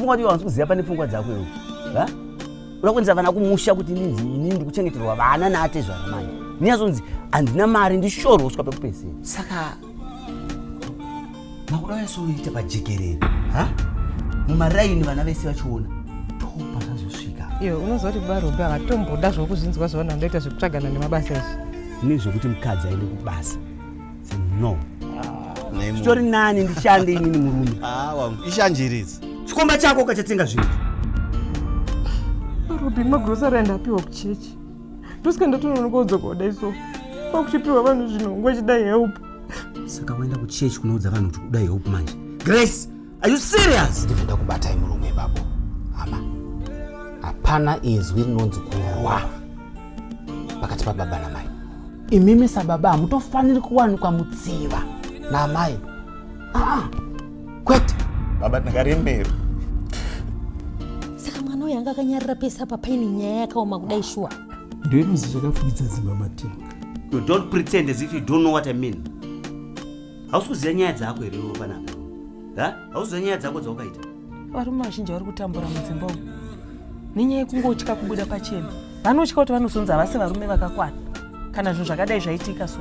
pfungwa ndiyo wanzi kuziva pane pfungwa dzako iwe ha unakuendesa vana kumusha kuti ndinzi ini ndikuchengeterwa vana naatezvara mani ninyazonzi handina mari ndishoro kusvika pekupedzera saka makuda uyasoita pajekerere ha mumaraini vana vese vachiona topa zvazosvika iwe unoziva kuti varombe havatomboda zvokuzvinzwa zvaona ndoita zvekutsvagana nemabasa izvi nezvekuti mukadzi aende kubasa no zvitori nani ndishande inini murume ah, wangu ishanjiridzi chikomba chako ukachatenga zvinhu robin magrosari andi apiwa kuchechi ndosika ndatononoka udzokoda iso kwakuchipiwa vanhu zvinhu ngwachida help saka waenda kuchechi kunoudza vanhu kuti kuda help manje grace Are you serious? Ndibve ndakubatai murume ipapo. Hama. Hapana izwi rinonzi kurwa pakati pababa namai. Imimi sababa hamutofaniri kuwanikwa mutsiva naamai. Ah, ah. kwete. Baba ndakarembera. Saka mwana uyu anga akanyarira pese apa paine nyaya yakaoma kudai shuwa. Ndoinozi zvakafukidza dzimba matenga. You don't pretend as if you don't know what I mean. hausi kuziva nyaya dzako here iwe panapa ha hausi kuziva nyaya dzako dzawakaita varume vazhinji vari kutambura mudzimba umu nenyaya yekungotya kubuda pachena vanotya kuti vanozonzi havasi varume vakakwana kana zvinhu zvakadai zvaitika so